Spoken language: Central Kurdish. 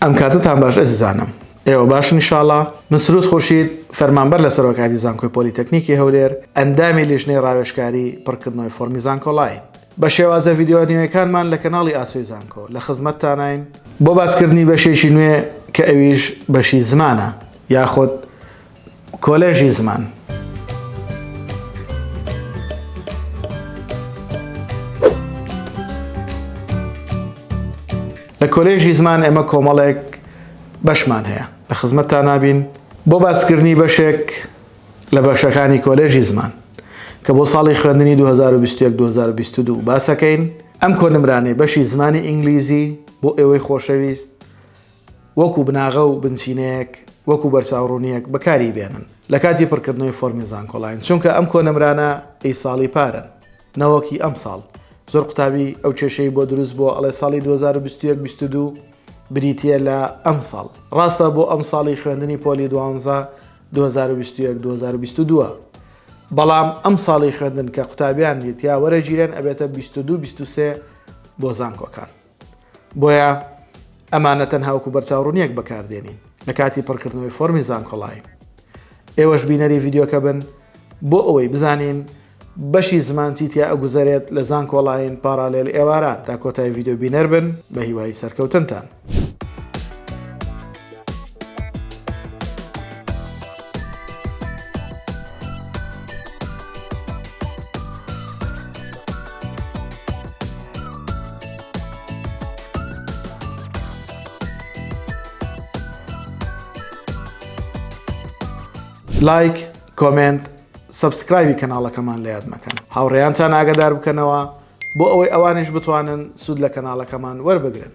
ئەم کاتەتان باش ئەزیزانم. ئێوە باشن ئیشاڵا؟ من سرود خورشید، فەرمانبەر لە سەرۆکایەتی زانکۆی پۆلیتەکنیکی هەولێر، ئەندامی لیژنەی ڕاوێژکاری پڕکردنەوەی فۆڕمی زانکۆڵاین. بە شێوازە ڤیدیۆ نوێیەکانمان لە کەناڵی ئاسۆی زانکۆ، لە خزمەتتاناین. بۆ باسکردنی بەشێکی نوێ کە ئەویش بەشی زمانە، یاخود کۆلێژی زمان. لە کۆلێژی زمان ئێمە کۆمەڵێک بەشمان هەیە لە خزمەتتا نابین بۆ باسکردنی بەشێک لە بەشەکانی کۆلێژی زمان کە بۆ ساڵی خوێندنی 2022 باسەکەین ئەم کۆنمرانەی بەشی زمانی ئینگلیزی بۆ ئێوەی خۆشەویست وەکو بناغە و بنچینەیەک، وەکو بەرچاوڕوونییەک بەکاری بێنن لە کاتی پڕکردنەوەی فۆرمی زانکۆلاین، چونکە ئەم کۆنمرانە ی ساڵی پارن نەوەکی ئەمساڵ. زۆر قوتابی ئەو کێشەی بۆ دروست بووە ئەڵێ ساڵی دوو هەزار و بیست و یەک بیست و دوو بریتییە لە ئەمساڵ. ڕاستە بۆ ئەمساڵی خوێندنی پۆلی دوانزە دوو هەزار و بیست و یەک دوو هەزار و بیست و دوو بەڵام ئەمساڵی خوێندن کە قوتابیان دیت یا وەرەگیرێن ئەبێتە بیست و دوو بیست و سێ بۆ زانکۆکان. بۆیە ئەمانە تەنها وەکو بەرچاوڕونیەک بەکاردێنین لە کاتی پڕکردنەوەی فۆرمی زانکۆڵای ئێوەش بینەری ڤیددیوکە بن بۆ ئەوەی بزانین بەشی زمان چیتیا ئەگوزارێت لە زان کۆڵین پارالێل ئێواران تا کۆتای ڤیددیو بینەر بن بە هیوای سەرکەوتنتان. لایک کۆمنت سبسکرایبی کەناڵەکەمان لە یاد مەکەن هاوڕێیانتان ئاگدار بکەنەوە بۆ ئەوەی ئەوانش بتوانن سوود لە کەناڵەکەمان وەربگرن